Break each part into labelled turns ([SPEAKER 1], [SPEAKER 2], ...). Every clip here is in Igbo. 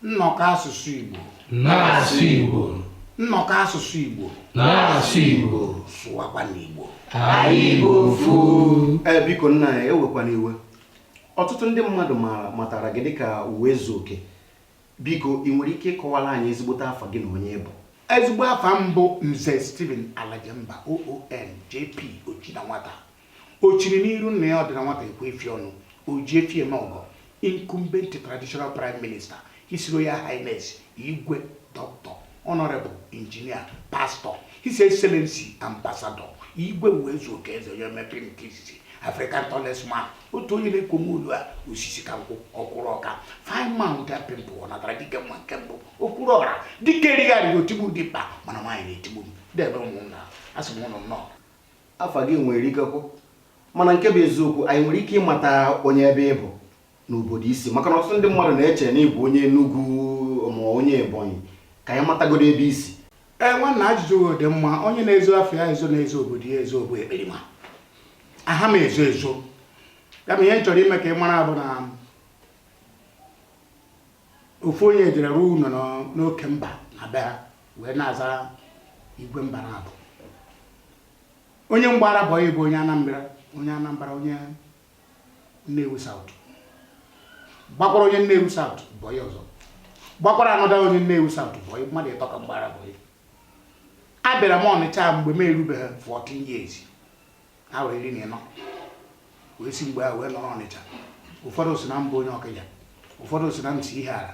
[SPEAKER 1] nnọkọ asụsụ Igbo na-asụ Igbo nnọkọ asụsụ Igbo na-asụ Igbo sụwakwa n'Igbo anyị bụ ofu ee biko nna ya ewekwana iwe ọtụtụ ndị mmadụ maara matara gị dịka Ụwaezuoke biko ị nwere ike ịkọwara anyị ezigbote afa gị na onye ị bụ ezigbo afa m bụ nze Stephen Alajemba OON JP Ochinanwata O chiri n'iru nna ya ọ dị na nwata ekwe efi ọnụ, Oji efi eme ọgọ, Incumbent Traditional Prime Minister, His Royal Highness Igwe Doctor, Honourable Engineer, Pastor, His Excellency Ambassador Igwe Ụwaezuoke Eze onye mepere nke izizi African tallest man, otu onye na-ekwomu olu a osisi ka nkwụ ọkwụrụ ọka fine man without pimple ọ natara dike mma nke mbụ okwuru ọra dike erigharịghị otigbu dimkpa mana nwaanyị na-etigbu ndeewo ụmụnna asị m ụnụ nnọọ afa gị nwere ikekwu mana nke bụ eziokwu anyị nwere ike ịmata onye ebe ị bụ na obodo i si maka na ọtụtụ ndị mmadụ na-eche na ị bụ onye Enugu ma onye Ebonyi ka anyị matagodo ebe i si ee nwanna ajụjụ gị dị mma onye na-ezo afa ya ezo na-ezo obodo ya ezo bụ ekperima aha m ezo ezo ya bụ ihe m chọrọ ime ka ị mara bụ na ofu onye jere rụọ ụlọ n'ọ- n'oke mba na be ha wee na-aza igwe mba na abụ onye m gbaara bọyị bụ onye anambra onye anambra onye nnewi South gbakwara onye nnewi South bọyị ọzọ gbakwara another onye nnewi South bọyị mmadụ ịtọ ka m gbaara bọyị abịara m ọnịcha mgbe m erubeghị 14 years afọ iri na ịnọ wee si mgbe ahụ wee nọrọ ọnịcha ụfọdụ sị na m bụ onye ọkịja ụfọdụ sị na m si ihiala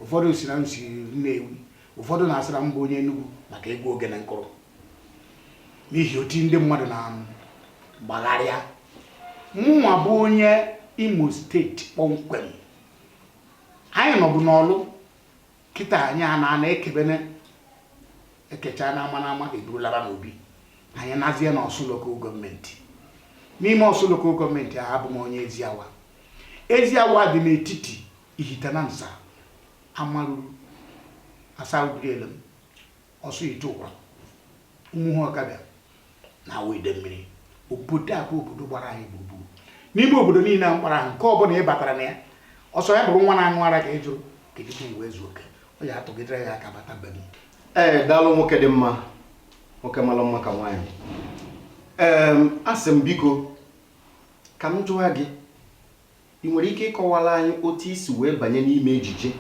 [SPEAKER 1] ụfọdụ sị na m si nnewi ụfọdụ na-asị na m bụ onye enugwu maka egwu ogene m kụrụ n'ihi oti ndị mmadụ na-agbagharịa mụnwa bụ onye imo steeti kpọmkwem anyị nọbụ n'ọlụ kịta anyị a na-ana ekebene ekechaa n'ama n'ama e buru laba n'obi anyị nọzie na ọsụ local government n'ime ọsụ local government ahụ abụ m onye eziawa eziawa dị n'etiti ihitenansa amaruru asa ubirielem ọsụihiteụkwa ụmụhụ ọkabịa na awọ idemmiri obodo a bụ obodo gbara anyị gburugburu n'ime obodo niile a m kpọrọ ahụ nke ọ bụla ị batara na ya ọ sọ ya bụrụ nwa na-aṅụ ara ka ị jụrụ ka ejite Ụwaezuoke ọ ya-atụgidere gị aka bata be m ee daalụ nwoke dị mma nwoke mara mma ka nwaanyị ee asị m biko ka m jụwa gị I nwere ike ịkọwara anyị otu i si wee banye n'ime ejije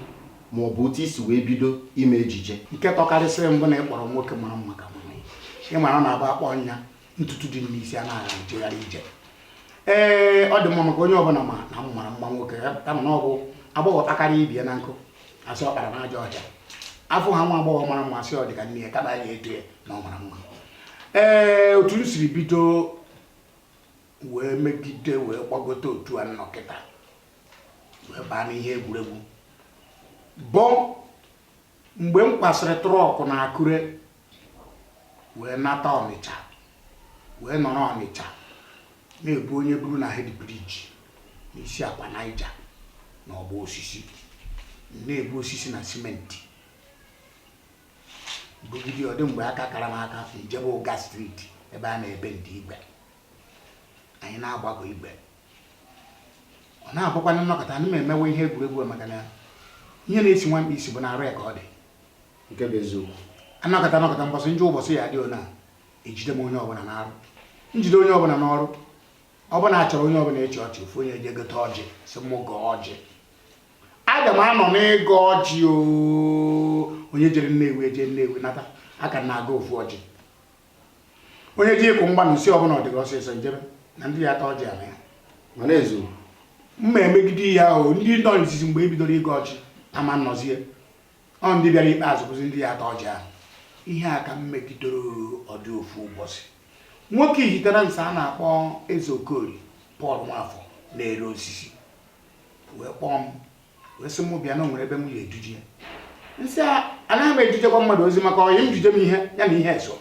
[SPEAKER 1] ma ọ bụ otu i si wee bido ime ejije? Nke tọkarịsịrị m bụ na ị kpọrọ nwoke mara mma ka mụ. Ị mara na ọ bụ a kpọọ ya ntutu dị n'isi a na-agha ejegharị ije. Ee, ọ dị mma maka onye ọbụla ma na m mara mma nwoke kama na ọ bụ agbọghọ kpakarịa ibe ya na nkụ a sị ọ kpara n'ajọ ọhịa a fụ nwa agbọghọ mara mma a sị ọ dị ka nne ya kama a ya-eto ya na ọ mara mma ee otu m siri bido wee megide wee gbagote otu a m nọkata wee baa n'ihe egwuregwu bụ mgbe m kwasịrị trọkụ na akure wee nata ọnịcha wee nọrọ ọnịcha na-ebu onye buru na hed briji n'isi akwa naija na ọgbọ osisi na-ebu osisi na simenti bugide ọ dị mgbe aka kara m aka m jebe ụga streeti ebe a na-ebendi igwe anyị na-agbagọ igwe ọ na-abụkwanụ m nọkata ana m emewe ihe egwuregwu maka na ihe na-esi nwa mkpi isi bụ n'arụ ya ka ọ dị nke bụ eziokwu a nọkata a nọkata mbọsị njọ ụbọchị ya dị ona ejide m onye ọbụla n'arụ m jide onye ọbụla n'ọrụ ọbụla a chọrọ onye ọbụla ịchị ọchị ofu onye ejee gote ọjị sị m gọọ ọjị aga m anọ n'ịgọ ọjị onye jere nnewi ejee nnewi nata a ka na-agọ ofu ọjị onye ji ịkụ mgba na isi ọ bụ na ọ dị gị ọsịsọ jebe na ndị ya-ata ọjị ala ya ma na-ezu mma emegide ihe ahụ ndị nọ n'izizi mgbe e bidoro ịgọ ọjị ama nọzie ọ ndị bịara ikpeazụ bụzi ndị ya-ata ọjị ahụ ihe a ka m megidoro ọ dị ofu ụbọchị nwoke ihitenansa a na-akpọ eze okori pọl nwafọ na-ere osisi wee kpọọ m wee sị m bịa na o nwere ebe m ya-eduje ya m sị anaghị m edujekwa mmadụ ozi maka ọyị m jije m ihe ya na ihe eso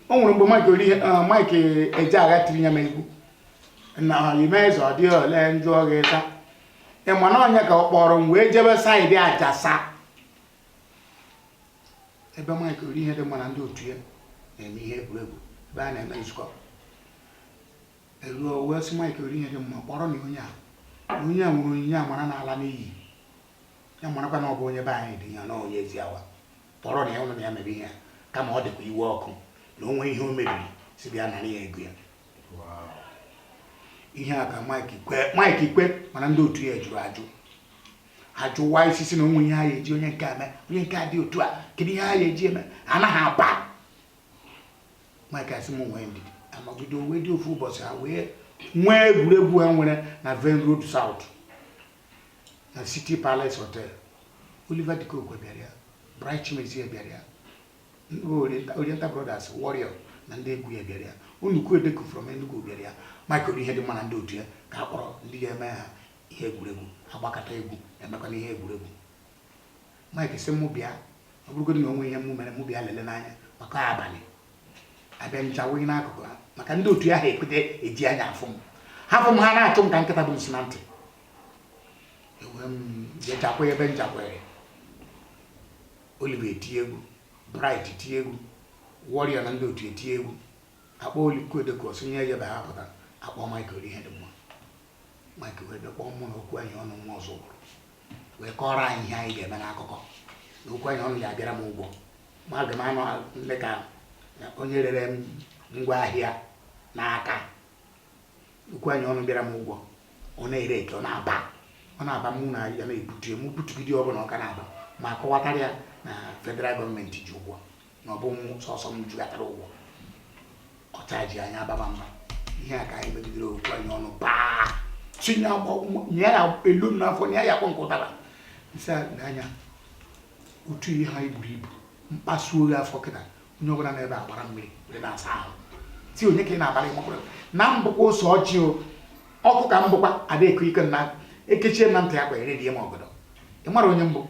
[SPEAKER 1] o nwere mgbe Mike ori eh, Mike Ejeagha tiri ya n'egwu na ime eze ọ dịghị ole njụ ọghị ịta ị ma na ọ ya ka ọ kpọrọ m wee jebe saịdị ajasa ebe Mike Orihedimma na ndị otu ya na-eme ihe egwuregwu ebe a na-eme nzukọ Eluo o wee sị Mike Orihedimma kpọrọnụ onye a onye a nwere onyinye amara na-ala n'iyi ya marakwa na ọ bụ onye be anyị dị ya na onye Eziawa kpọrọnụ ya ụnụ na ya mere ihe a kama ọ dịkwa iwe ọkụ na o nwee ihe o mebiri sị bịa nara ya ego ya ihe a ka Mike kwe Mike kwe mana ndị otu ya jụrụ ajụ ajụwa isi sị na o nwe ihe ha ya-eji onye nke a mee onye nke a dị otu a kedu ihe ha ya-eji eme anaghị aba mike sị m nwee ndidi amagodo wee dị ofu ụbọchị ha wee nwee egwuregwu ha nwere na venn road south na city palace hotel oliver de coque bịara ya bright chimezie bịara ya oriental brothers warrior na ndị egwu ya bịara ya nnukwu edeku from enugu bịara ya mike orihedimma na ndị otu ya ka a kpọrọ ndị ga-eme ha ihe egwuregwu a gbakata egwu e mekwana ihe egwuregwu Mike sị mụ bịa ọ bụrụgodị na o nwee ihe mụ mere mụ bịa lele n'anya maka abalị abịa ncha wụghị n'akụkụ ha maka ndị otu ya ha ekweta eji anya afụ m ha fụ m ha na-achụ m ka nkịta bu nsị na ntị e wee m jechakwa ebe nchakwere Oliver eti egwu Bright eti egwu Warrior na ndị otu eti egwu a kpọọ Oliko Odeko sonye ejebe ha pụta a kpọọ Mike Orihedimma Mike wee bịa kpọọ mụ na okwu anyị ọnụ nwa Ọzụbụlụ wee kọọrọ anyị ihe anyị ga-eme n'akụkọ na okwu anyị ọnụ ya abịara m ụgwọ ma aga m anọ dị ka onye rere m ngwa ahịa n'aka okwu anyị ọnụ bịara m ụgwọ ọ na-ere eke ọ na-aba ọ na-aba mụ na ya na-ebutu m butugide ọ bụrụ na ọ ka na-aba m akọwatara ya na federal government ji ụgwọ na ọ bụ sọsọ m julatara ụgwọ ọcha ji anya ababa mba ihe a ka anyị megidere okwu anyị ọnụ paa tinye nye ya elu m n'afọ nye ya akpọ nke ụtara nsị n'anya otu a i buru ibu m kpasuo gị afọ kịta onye ọbụla nọ ebe a agbara mmiri were na-asa ahụ sị onye ka ị na-abara ị makwara na m bụkwa ose ọjị o ọkụ ka m bụkwa ada eko ike na ekechie na ntị akwa ere die m ọgọdọ ị mara onye m bụ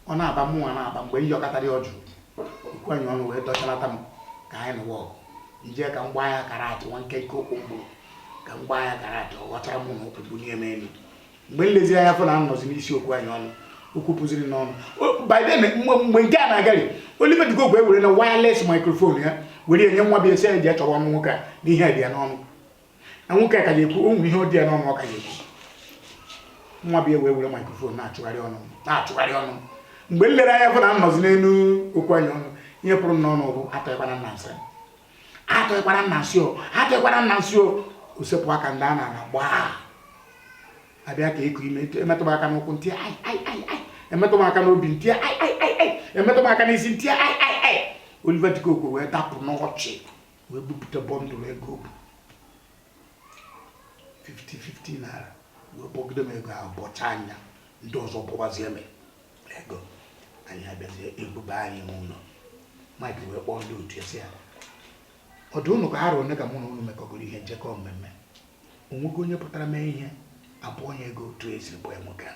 [SPEAKER 1] ọ na-aba mụnwa na-aba mgbe m yọkatara ọ jụrụ okwu anyị ọnụ wee dọchalata m ka anyị nụwa ọgụ e jee ka m gbaa ya karate nwa nkenke ụkwụ mgbụrụ ka m gbaa ya karate ọ ghọchara mụ na ụkwụ bunie m elu mgbe m lezi anya fụ na m nọzi n'isi okwu anyị ọnụ okwu pụziri n'ọnụ biden mgbe nke a na-agari oliver de coque were na wireless microphone ya were nye nwa boy sị ya je chọwa ọnụ nwoke a na ihe dị ya n'ọnụ na nwoke a ka ga-ekwu o nwere ihe ọ dị ya n'ọnụ ọ ka ga-ekwu nwa bịa wee were microphone na-achụgharị ọnụ na-achụgharị ọnụ mgbe m lere anya fụ na m nọzi n'elu okwu anyị ọnụ ihe pụrụ m n'ọnụ bụ atọghịkwana m na nsị atọghịkwana m na nsị o atọghịkwana m na nsị o o sepụ aka m daa n'ana gbaa a bịa ka e kunie m e metụ m aka n'ụkwụ m tie ai ai ai ai e metụ m aka n'obi m tie ai ai ai ai e metụ m aka n'isi m tie ai ai ai Oliver De Coque wee dapụ n'ọchị wee bupụta bundle ego bụ 50-50 naira wee bọgide m ego ọ bọchaa ya ndị ọzọ bọbazie m ego anyị abịazie e buba anyị n'ụlọ mike wee kpọọ ndị otu sị ha ọ dụ ụnụ ka ha rụrụ ka mụ na ụnụ mekọgoro ihe njekọ mmemme o nwego onye pụtara mee ihe a bọọ ya ego otu e si bọọ nwoke a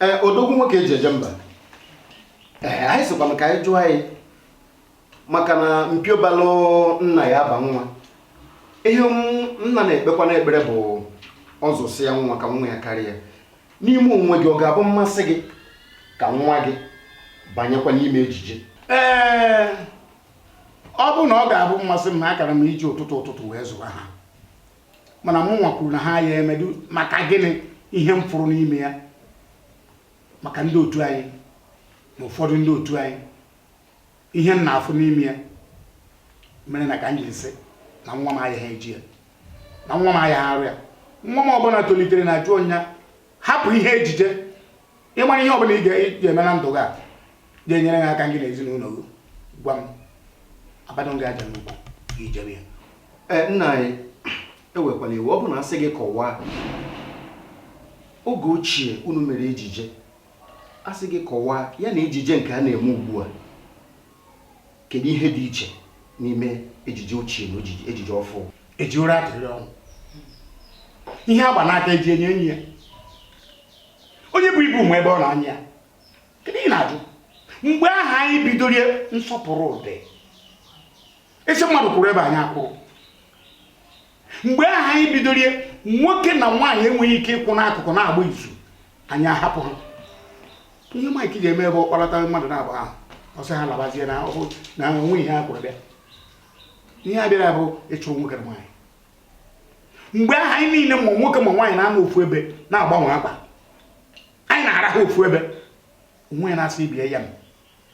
[SPEAKER 1] ee odogwu nwoke eji eje mba ee anyị sịkwa m ka anyị jụọ anyị maka na mpio balụ nna ya aba nwa ihe nna na-ekpekwa n'ekpere bụ ọ zụsịa nwa ka nwa ya karịa n'ime onwe gị ọ ga-abụ mmasị gị ka nwa gị banyekwa n'ime ejije ee ọ bụ na ọ ga-abụ mmasị m ma akara m iji ụtụtụ ụtụtụ wee zụwa ha mana mụnwa kwuru na ha ya emedu maka gịnị ihe m fụrụ n'ime ya maka ndị otu anyị na ụfọdụ ndị otu anyị ihe m na-afụ n'ime ya mere na ka m jiri sị na nwa m ayaha eje ya na nwa m ayaha arụ ya nwa m ọbụla tolitere na-ajụ nya hapụ ihe ejije ị mara ihe ọbụla ị ga-eme na ndụ gị a ga-enyere gị aka gị na ezinụlọ gị gwa m abadụ gị aja n'ukwu i jebe ya e, nna anyị ewekwala iwu ọ bụ na asị gị kọwaa oge ochie unu mere ejije asị gị kọwaa ya na ejije nke a na-eme ugbu a kedu ihe dị iche n'ime ejije ochie na ejije ọfụ eji ụra atụrị ọnwụ ihe agba n'aka eji enyo enyo ya onye bu ibu nwe ebe ọ na-anyị ya kedu ihe ị na-ajụ mgbe ahụ anyị bidoro ya nsọpụrụ dị ị sị mmadụ kwụrụ ebe a nya akwụrụ mgbe ahụ anyị bidoro ya nwoke na nwaanyị enweghị ike ịkwụ n'akụkụ na-agba izu anyị ahapụ ha ihe Mike ji eme bụ ọ kpọlata mmadụ naabọ ahụ ọ sị ha labazie na o nwe ihe a kwụrụ bịa ihe a bịara bụ ịchụrụ nwoke na nwaanyị mgbe ahụ anyị niile ma nwoke ma nwaanyị na-anọ ofu ebe na-agbanwe akwa anyị na-arahụ ofu ebe o nwee onye na-asị ibe ya m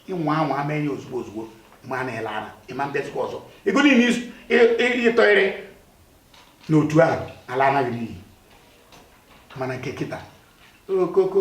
[SPEAKER 1] ị nwaa anwa ama enye ozugbo ozugbo ma a na-ele ara ị ma bịazikwa ọzọ ego niile ị tụnyere n'otu ahụ alanarị gị n'iyi mana nke kịta okoko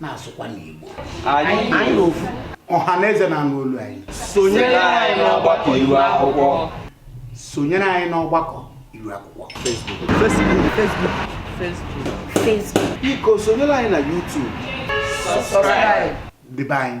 [SPEAKER 1] na-asụkwa n'Igbo anyị ofu ọha na eze na-anụ olu anyị sonyere anyị n'ọgbakọ iru akwụkwọ sonyere anyị n'ọgbakọ iru akwụkwọ Facebook Facebook Facebook Facebook biko sonyere anyị na YouTube subscribe dịbe anyị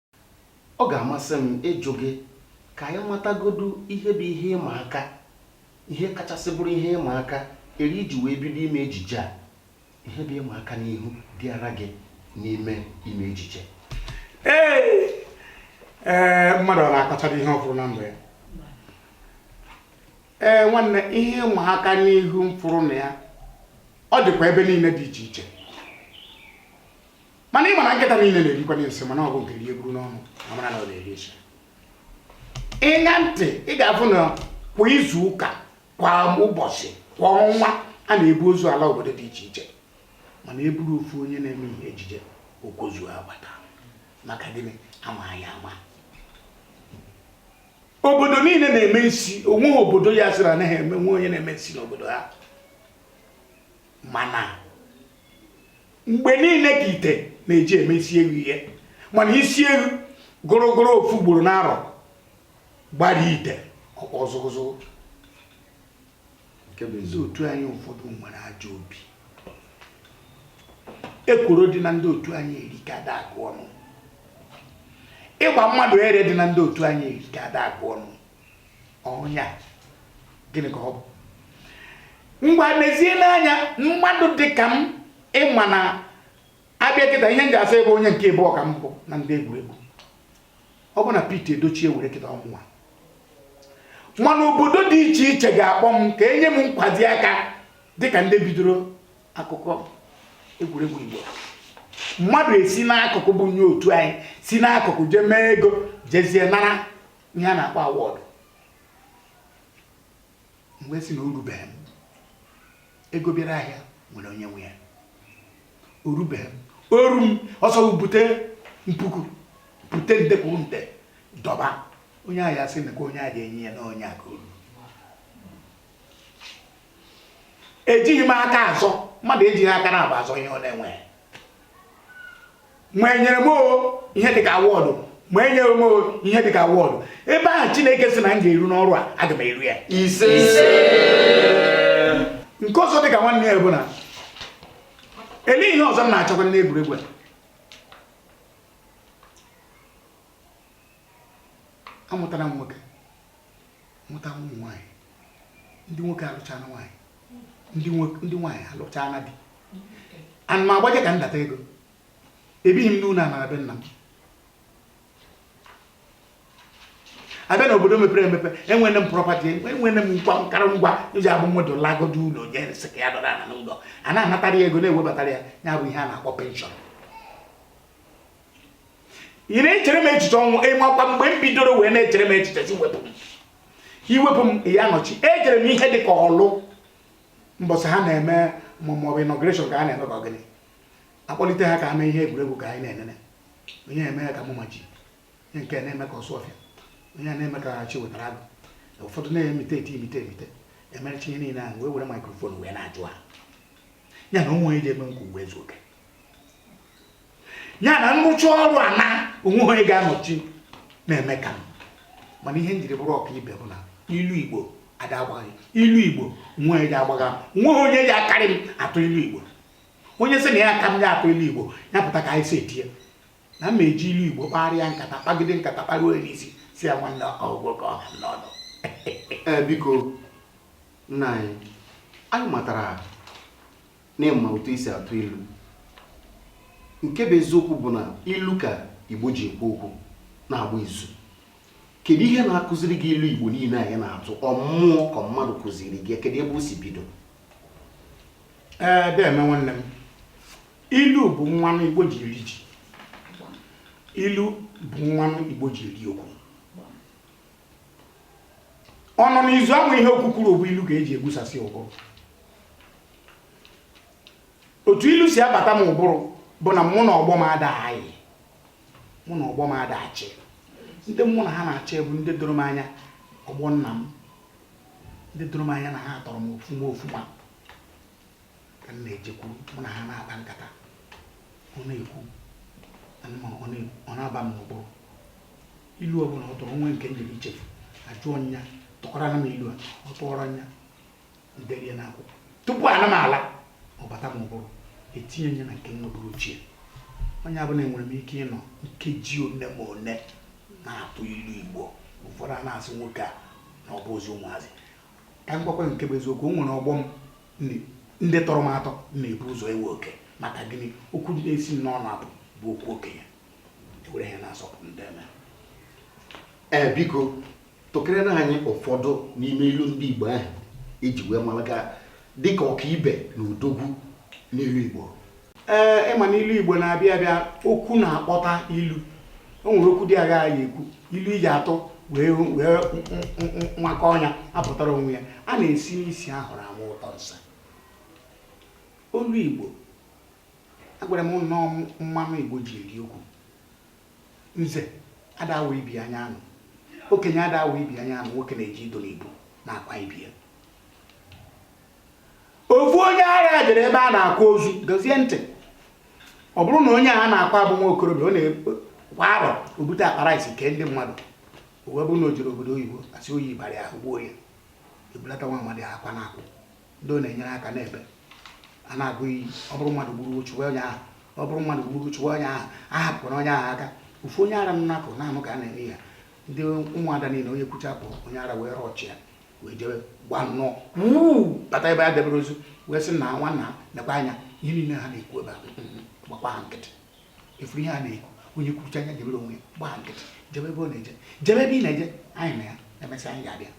[SPEAKER 1] Ọ ga-amasị m ịjụ gị ka anyị matagodu ihe bụ ihe ịma aka, ihe kachasị bụrụ ihe ịma aka eri i ji wee bido ime ejije a. Ihe bụ ịma aka n'ihu dịara gị n'ime ime ejije? Ee, ee, mmadụ ọ na-akọchara ihe ọ fụrụ na ndụ ya? Ee, nwanne, ihe ịma aka n'ihu m fụrụ na ya, ọ dịkwa ebe niile dị iche iche. mana ị ma na nkịta niile na-erikwa nsị mana ọ bụ nke rie buru n'ọnụ a mara na ọ na-eri nsị ị ṅaa ntị ị ga-afụ na kwa izu ụka kwa ụbọchị kwa ọnwa a na-ebu ozu ala obodo dị iche iche mana e buru ofu onye na-eme ihe ejije okozu agbata maka gịnị a ma ya ama obodo niile na-eme nsi o nweghị obodo ya-asị na o nweghị onye na-eme nsi n'obodo ha mana mgbe niile ka ite na-eji eme isi eghu ihe mana isi eghu gụrụgụrụ ofu ugboro n'arọ gbara ite ọkpọ zụgụzụgụ nke bụ eziokwu ndị otu anyị ụfọdụ nwere ajọ obi ekworo dị na ndị otu anyị erika ada agụ ọnụ ịgba mmadụ ere dị na ndị otu anyị erika ada agụ ọnụ ọhịa gịnị ka ọ bụ ngwa mezie n'anya mmadụ dị ka m ị ma na a bịa kịta ihe m ji asa ebe onye nke ịbụọ ka m bụ na ndị egwuregwu ọ bụ na Pete Edochie were kịta ọ mụwa mana obodo dị iche iche ga-akpọ m ka e nye m nkwazi aka dịka ndị bidoro akụkọ egwuregwu Igbo mmadụ esi n'akụkụ bụ onye otu anyị si n'akụkụ jee mee ego jezie nara ihe a na-akpọ awọdụ m wee sị na o rubeghị m ego bịara ahịa nwere onye nwe ya o rubeghị m o ru m ọ sọ bute puku bute nde kwuru nde dọba onye ahụ ya sị na onye a ga-enye ya na onye a ka o ru ejighị m aka azọ mmadụ ejighị aka naabọ azọ ihe ọ na-enweghị ma e nyere m ihe dịka awọdụ ma enyeghị m ihe dịka awọdụ ebe ahụ chineke sị na m ga-eru n'ọrụ a aga m eru ya isi nke ọzọ dịka nwanne ya bụ na elee ihe ọzọ m na-achọkwa n'egwuregwu a amụtara m nwoke mụta ụmụ nwaanyị ndị nwoke alụchana nwaanyị ndị nwaanyị alụchana di ana m agbaje ka ndata ego ebighị m n'ụlọ a na be nna m a bịa na obodo mepere emepe enwere m prọpati enwere m ngwa nkara ngwa e ji abụ mmadụ lagodo ụlọ onye sị ka ya nọrọ ana n'ụlọ a na-anatara ya ego na-ewebatara ya ya bụ ihe a na-akpọ penshọn ị na-echere m echiche ọnwụ ị makwa mgbe m bidoro wee na-echere m echiche sị wepụ m e wepụ m ya nọchi ejere m ihe dị ka Ọlụ mbọsị ha na-eme maọbụ inọgreshọn ka a na-eme ka ọ bụ gịnị akpọlite ha ka ha mee ihe egwuregwu ka anyị na-enene onye na-eme ya ka Mama G onye nke na-eme ka Osuofia onye a na-eme ka Chiwetalu Agu ụfọdụ na-imitate imitate emerecha ihe niile ahụ wee were maikrofon wee na-ajụ ha ya na onwe onye ji eme ka Uwaezuoke ya na-anọchi ọrụ a na onwe onye ga-anọchi na-eme ka m mana ihe m jiri bụrụ ọkaibe bụ na ilu igbo ada agbagha ilu igbo onwe onye ji agbagha onwe onye ji akarị m atụ ilu igbo onye sị na ya ka m atụ ilu igbo ya pụta ka anyị si etinye na m eji ilu igbo kparịa nkata kpagide nkata kparuo n'isi sị ya nwanne ọgwụ ka ọ ha m n'ọnụ ee biko nna anyị anyị matara na ị ma otu esi atụ ilu nke bụ eziokwu bụ na ilu ka igbo ji ekwu okwu na-agba izu kedu ihe na-akụziri gị ilu igbo niile ahụ ị na-atụ ọ mmụọ ka ọ mmadụ kụziri gị kedu ebe o si bido ee eh, deme nwanne m ilu bụ mmanụ igbo ji eri ji ilu bụ mmanụ igbo ji eri okwu ọ nọ n'izu ama ihe okwu kwuru bụ ilu ka eji egbusasị ụbụrụ otu ilu si abata m ụbụrụ bụ na mụ na ọgbọ m ada ayi mụ na ọgbọ m ada achị ndị mụ na ha na-achị bụ ndị doro m anya ọgbọ nna m ndị doro m anya na ha tọrọ m ofuma ofuma ka m na-ejekwuru mụ na ha na-akpa nkata ọ na-ekwu ọ na-aba m n'ụbụrụ ilu ọ bụla ọ tụrụ onwe nke m ji echefu ajụọ m ya tụkwara nụ m ilu a ọ tụọrọ m ya m derie n'akwụkwọ tupu ana m ala ọ bata m ụbụrụ etinye m ya na nke nọbụrụ ochie onye ọ bụla enwere m ike ịnọ nkeji one ma one na-atụ ilu igbo ụfọdụ a na-asị nwoke a na ọ bụrọzi ụmụazị ka m gwakwa nke bụ eziokwu o nwere ọgbọ m ndị tọrọ m atọ na-ebu ụzọ ewe oke maka gịnị okwu na-esi m n'ọnụ apụ bụ okwu okenye ewere ihe na-asọpụ m deme ee biko tụkere na anyị ụfọdụ n'ime ilu ndị Igbo ahụ eji wee mara gị dịka ọkaibe na odogwu n'ilu Igbo ee ị ma na ilu Igbo na-abịa abịa okwu na-akpọta ilu o nwere okwu dị agha ya ekwu ilu eji atụ wee wee nwakọ ọnya apụtara onwe ya a na-esi n'isi ahụrụ ama ụtọ nsị ilu Igbo agwara m na ọ mmanụ Igbo ji eri okwu nze ada awa ibi anya anụ okenye ada awa ibi anya anụ nwoke na-eji ido na ibu na-akwa ibe ya ofu onye agha jere ebe a na-akwa ozu dozie ntị ọ bụrụ na onye a na-akwa abụ nwa okorobịa ọ na kwa arọ o bute akpa rice kee ndị mmadụ o wee bụrụ na o jere obodo oyibo asị oyi bara ya gbuo ya ebulata nwa amadi akwa na-akwụ ndị ọ na-enyere aka n'ebe a na-agụ iyi ọ bụrụ mmadụ gburu chụwa onye ahụ ọ bụrụ mmadụ gburu chụwa onye ahụ a hapụkwara onye ahụ aka ofu onye ara nọ n'akụkụ na-anụ ka a na-eme ya ndị ụmụada niile onye kwucha pụ onye ara wee rọchị ya wee jebe gba nnọọ bata ebe a debere ozu wee sị na nwanna nekwa anya ihe niile ha na-ekwu ebe a gbakwa ha nkịtị efuru ihe a na-ekwu onye kwuchaa ya jebere onwe ya gbaa nkịtị jebe ebe ọ na-eje jebe ebe ị na-eje anyị na ya emesịa anyị ga-abịa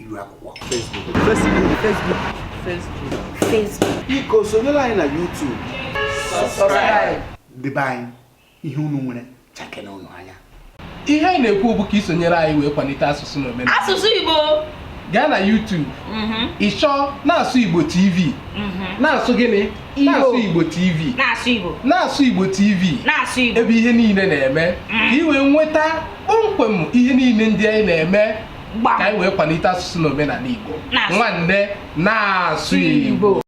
[SPEAKER 1] iru akwụkwọ Facebook Facebook Facebook Facebook Facebook biko sonyere anyị na YouTube subscribe ndị be anyị ihe unu nwere chakena unu anya ihe anyị na-ekwu bụ ka i sonyere anyị wee kwalite asụsụ na omenala asụsụ Igbo gaa na YouTube mhm. ị chọọ na-asụ Igbo TV mhm. na-asụ gịnị na-asụ Igbo TV na-asụ Igbo na-asụ Igbo TV na-asụ Igbo ebe ihe niile na-eme mhm. ka ị wee nweta kpọmkwem ihe niile ndị anyị na-eme Gbam. ka anyị wee kwalite asụsụ na omenala Igbo Na-asụ. nwanne na-asụ Igbo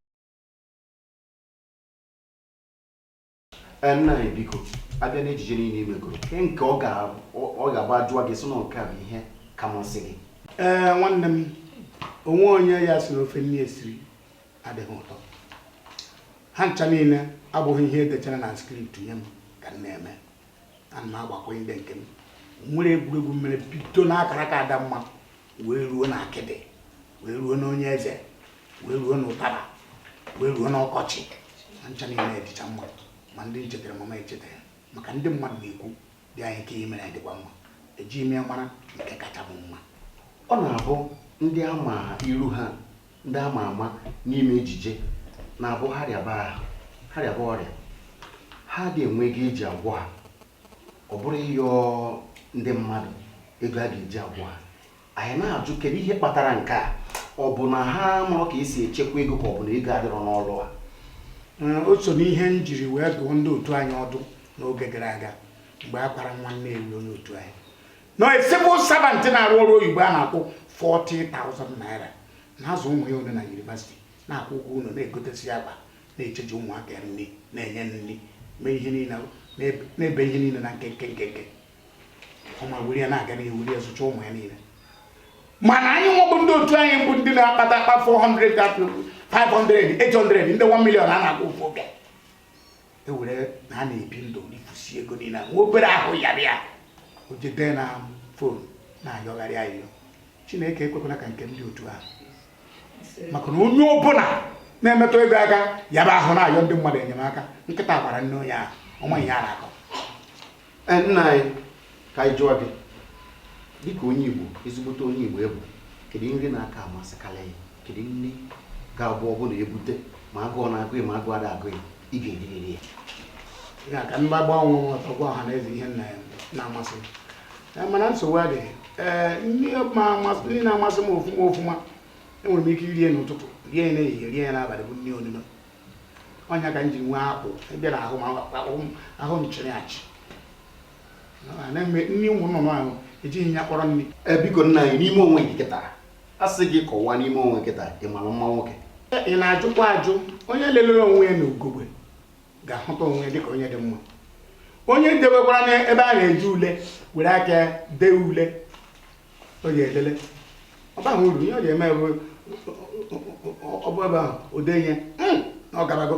[SPEAKER 1] Ee, nna anyị biko a bịa n'ejije niile i megoro nke nke ọ ga- ọ- ọ ga-abụ a jụọ gị sị na nke a bụ ihe ka masị gị ee nwanne m o nwe onye ya-asị na ofe nne ya siri adịghị ụtọ ha ncha niile abụghị ihe e dechara na script nye m ka m na-eme ana m agbakwunye ndị nke m nwere egwuregwu m mere bido n'akaraka adamma wee ruo na akịdị wee ruo n'onye eze wee ruo n'ụtara wee ruo n'ọkọchị ha ncha niile dịcha mma ma ndị m chetara mama echetara maka ndị mmadụ na-ekwu dianyi nke i mere dịkwa mma eji ime mara nke kacha bụ mma ọ na-abụ ndị a ma iru ha ndị ama ama n'ime ejije na-abụ ha rịaba ahụ ha rịaba ọrịa ha adị enwe ego e ji agwọ ha ọ bụrụ ịyọ ndị mmadụ ego a ga-eji agwọ ha anyị na-ajụ kedu ihe kpatara nke a ọ bụ na ha amarọ ka e si echekwa ego ka ọ bụ na ego adịrọ n'ọrụ a mm, o so n'ihe m jiri wee dụọ ndị otu anyị ọdụ n'oge gara aga mgbe a kwara nwa Nnewi onye otu anyị na civil servant na-arụ ọrụ oyibo a na-akwụ 40,000 naira na-azụ ụmụ ya ole na yunivasiti na-akwụ ụgwọ ụlọ na-egotesi akpa na-echeji ụmụaka nri na-enye nri mee ihe niile na-eme ihe niile na nkenke nkenke ọma were ya na-aga n'ihu were ya zụcha ụmụ ya niile mana anyị nwa bụ ndị otu anyị bụ ndị na-akpata akpa 400 500 800 ndị 1 million a na-akwụ ofu oge e were na a na-ebi ndụ rifusi ego niile nwa obere ahụ yara ya o jebe na fon na-ayọgharị ayịyọ chineke ekwekwala ka nke ndị otu ahụ maka na onye ọbụla na-emetụ ego aka yaba ahụ na-ayọ ndị mmadụ enyemaka nkịta gbara nne onye ahụ ọ ma ihe a na-akọ E, nna anyị ka anyị jụọ gị dịka onye Igbo ezigbote onye Igbo ị bụ kedu nri na-aka amasịkarị gị kedu nri ga-abụ ọ bụrụ na e bute ma agụụ na-agụ gị ma agụụ ada agụ gị ị ga-eririri ya ya ka ndị agbanwe nghọta gwa ọha na eze ihe nna ya na-amasị m Eh, mana nsogbu adịghị ee nri ma amasị nri na-amasị m ofuma ofuma enwere m ike irie n'ụtụtụ rie ya n'ehihie rie ya n'abalị bụ nri onuno ọ nya ka m ji nwee akpụ ebe na ahụ ahụ m chịrị achị nri ụmụ nnụnụ ahụ ejighị ya kpọrọ nri e, biko nna anyị n'ime onwe gị kịta a sị gị kọwaa n'ime onwe gị kịta ị mara mma nwoke e, ị na-ajụkwa ajụ onye lelere onwe ya n'ugogbe ga-ahụta onwe ya dịka onye dị mma onye e dewekwara n'ebe a na-eji ule were aka dee ule ọ ya ede ule ọ baghị uru ihe ọ ya eme bụ ọ bụ ebe ahụ o dee onwe ya na ọ garago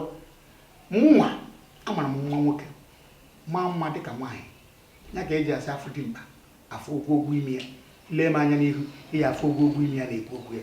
[SPEAKER 1] mụnwa amara m nwa nwoke maa mma dịka nwaanyị ya ka e ji asị a fụ dimkpa a fụ ogwogwo imi ya lee m anya n'ihu ị ya-afụ ogwogwo imi ya na-ekwu okwu ya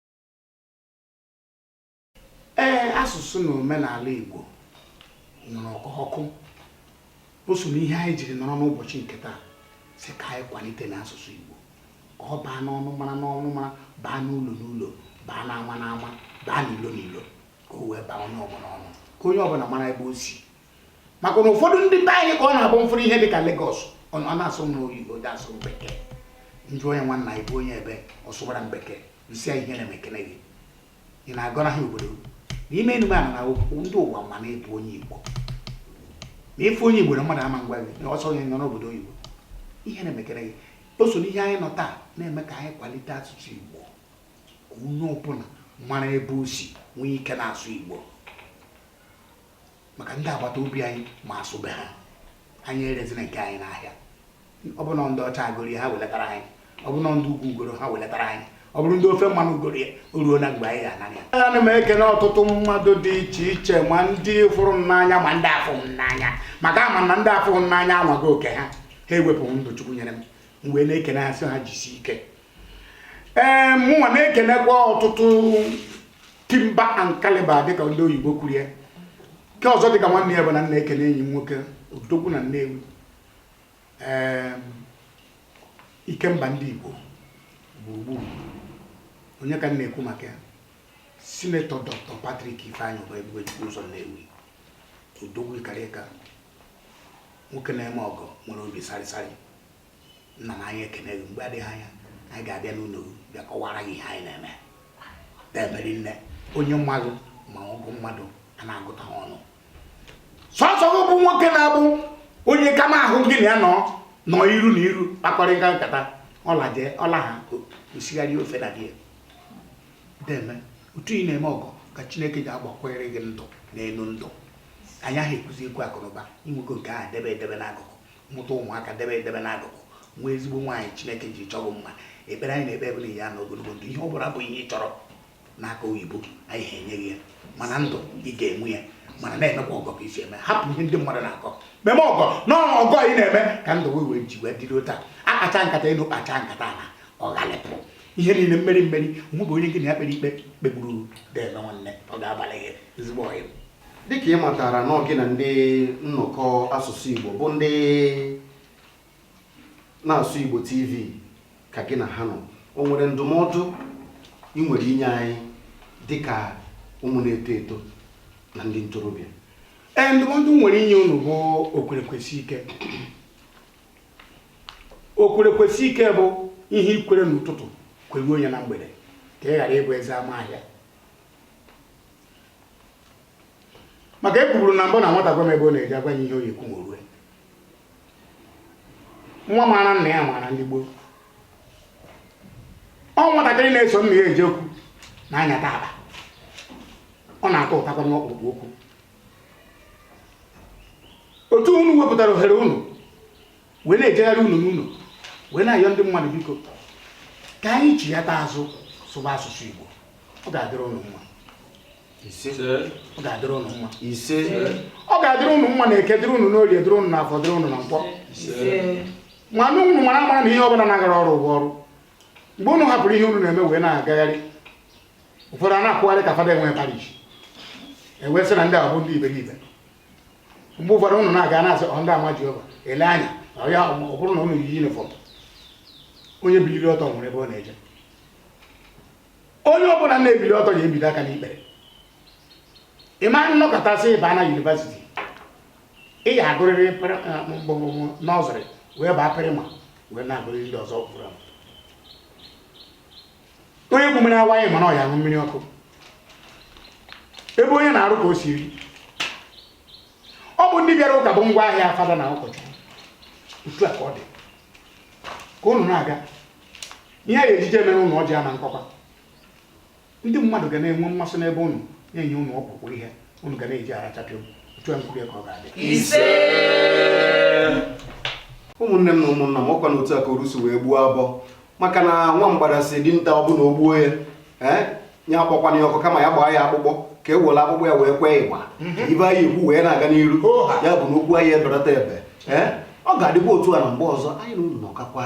[SPEAKER 1] ee asụsụ na omenala Igbo nwuru ka ọkụ o so n'ihe anyị jiri nọrọ n'ụbọchị nke taa si ka anyị kwalite n'asụsụ Igbo ka ọ baa n'ọnụmara n'ọnụmara baa n'ụlọ n'ụlọ baa n'ama n'ama baa n'ilo n'ilo ka o wee baa onye ọbụla ọnụ ka onye ọbụla mara ebe o si maka na ụfọdụ ndị be anyị ka ọ na-abụ m fụrụ ihe dị ka Lagos ọ na-asụ m n'oyibo dị asụ m bekee m jụọ onye nwanna ị bụ onye ebee ọ sụwara m bekee m sị ihe na-eme ekene gị ị na-agọnarị obodo n'ime enume a na ndị ụwa ma na ị bụ onye Igbo na ị fụ onye Igbo na mmadụ ama ngwa gị na ọsọ onye nọ n'obodo oyibo ihe na-eme ekene gị o so n'ihe anyị nọ taa na-eme ka anyị kwalite asụsụ Igbo ka onye ọbụla mara ebe o si nwee ike na-asụ Igbo maka ndị agbata obi anyị ma asụ be ha anyị erezina nke anyị n'ahịa ọ bụrụ na ndị ọcha egoro ya ha welatara anyị ọ bụrụ na ndị ugwu egoro ha welatara anyị ọ bụrụ ndị ofe mmanụ egoro ya o ruona mgbe anyị ga-ana ya ana m ekene ọtụtụ mmadụ dị iche iche ma ndị fụrụ m n'anya ma ndị afụrọ m n'anya maka ama m na ndị afụrọ m n'anya anwaa oke ha ha ewepụghị ndụ chukwu nyere m m wee na-ekene ha sị ha jisi ike ee mụnwa na-ekenekwa ọtụtụ timber and calibre dịka ndị oyibo kwuru ya nke ọzọ dịka nwanne ya bụ na m na-ekene enyi m nwoke odogwu na nnewi ee ikemba ndị igbo gburugburu onye ka m na-ekwu maka ya senator doctor patrick ifeanyị ụba ebube chukwu ụzọ nnewi odogwu karịka nwoke na-eme ọgọ nwere obi sarịsarị nna na anyị ekene gị mgbe adịghị anya anyị ga-abịa n'ụlọ bịa kọwara gị ihe anyị na-eme na-emeri nne onye mmadụ ma ọgụ mmadụ a na-agụta ha ọnụ sọsọ gị bụ nwoke na-abụ onye kama ahụ gị na ya nọ nọ iru na iru kpakọrịta nkata ọla jee ọla ha osigharị ofe na gị deme otu ị na-eme ọgọ ka chineke ji agbakwere gị ndụ n'elu ndụ a naghị ekwuzi ekwu akụnụba inwego nke ahụ debe edebe n'akụkụ mụta ụmụaka debe edebe n'akụkụ nwee ezigbo nwaanyị chineke ji chọọ gị mma ekpere anyị na-ekpe ebele ya na ogologo ndụ ihe ọ bụla bụ ihe ị chọrọ n'aka oyibo anyị ga-enye gị ya mana ndụ ị ga-enwe ya mana na-emekwa ọgọ ka i si eme hapụ ihe ndị mmadụ na-akọ meme ọgọ na ọgọ ị na-eme ka ndụ wee wee ji wee dịrị otu a akacha nkata elu kpacha nkata na ọghalịpụ ihe niile mmeri mmeri mụ bụ onye gị na ya kpere ikpe kpegburu deme nwanne ọ ga-abalị gị ezigbo ọyị dịka ị matara na gị na ndị nnọkọ asụsụ Igbo bụ ndị na-asụ Igbo TV ka gị na ha nọ o nwere ndụmọdụ ị nwere inye anyị dịka ụmụ na-eto eto na ndị ntorobịa ee ndụmọdụ m nwere inye unu bụ okwere kwesi ike okwere kwesi ike bụ ihe i kwere n'ụtụtụ kweruo ya na mgbede ka ị ghara ịbụ eze ama ahịa maka e kwuburu na mbụ na nwata gwa m ebe ọ na-eje a gwa ya ihe ọ ya-ekwu ma o rue nwa maara nna ya maara ndị gboo ọ nwatakịrị na-eso nna ya eje okwu na-anyata akpa ọ na-aghọtakwa ọkpụrụkpụ okwu otu unu wepụtara ohere unu wee na-ejegharị ụlọ n'ụlọ wee na-ayọ ndị mmadụ biko ka anyị chighata azụ sụba asụsụ Igbo ọ ga-adịrị ụnụ mma ọ ga-adịrị ụnụ mma ise ọ ga-adịrị ụnụ mma na eke dịrị ụnụ n'orie dịrị ụnụ na afọ dịrị ụnụ na nkwọ ma na ụnụ mara mara na ihe ọbụla na-agara ọrụ ụgwọ ọrụ mgbe ụnụ hapụrụ ihe ụnụ na-eme wee na-agagharị ụfọdụ a na-akwụgharị ka fada enwe parish e wee sị na ndị ahụ bụ ndị iberibe mgbe ụfọdụ ụnụ na-aga na-asị ọ ndị ama Jehova ele anya na ya ọ bụrụ na ụnụ yi yunifọm onye biliri ọtọ nwere ebe ọ na-eje onye ọbụla na-ebili ọtọ ga-ebide aka n'ikpere ị ma nọkatasị ba na yunivasiti ị ya agụrịrị mgbọmụmụ nọsịrị wee baa praịmarị wee na-agụrịrị ndị ọzọ pụrụ onye ku mmiri awaị ma na ọ ya aṅụ mmiri ọkụ ebe onye na-arụ ka o si eri ọ bụ ndị bịara ụka bụ ngwa ahịa fada na ụkọchukwu otu a ka ọ dị ka unu na-aga ihe a ga-ejije mere unu ọjị ama nkọkwa ndị mmadụ ga na-enwe mmasị n'ebe unu na-enye unu ọkpụkpụ ihe unu ga na-eji ara chapịa otu a nkwulie ka ọ ga-adị ise ụmụnne m na ụmụnna m ọkwa na otu a ka orusu wee gbuo abụọ maka na nwa mgbada sị dinta ọ bụ na o gbuo ya ee ya akpọkwana ya ọkụ kama ya gbaa ya akpụkpọ ka e were akpụkpọ ya wee kwee igba mhm. ibe anyị egwu wee na-aga n'iru ya bụ na okwu anyị eberata ebe ee ọ ga-adịba otu a ruo mgbe ọzọ anyị na unu nọkakwa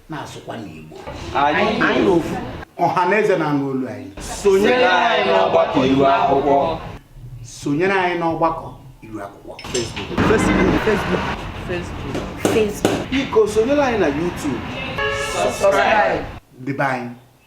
[SPEAKER 1] na-asụkwa n'Igbo anyị ofu ọha na eze na-anụ olu anyị sonyere anyị n'ọgbakọ iru akwụkwọ sonyere anyị n'ọgbakọ iru akwụkwọ Facebook Facebook Facebook Facebook biko sonyere anyị na YouTube subscribe ndị be anyị